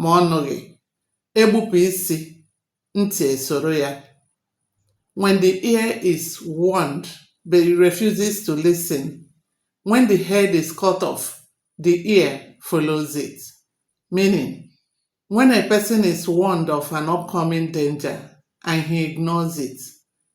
ma ọ nụghị, egbupụ isi, ntị esoro ya. When the ear is warned but it refuses to listen, when the head is cut off, the ear follows it. Meaning, when a person is warned of an upcoming danger and he ignores it,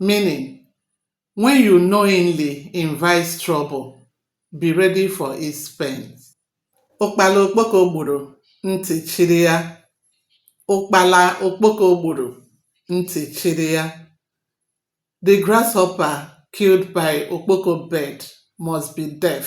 meaning when you knowingly invite trouble, be ready for its pains. Ụkpala okpoko gburu ntị chiri ya. Ụkpala okpoko gburu ntị chiri ya. The grasshopper killed by okpoko bird must be deaf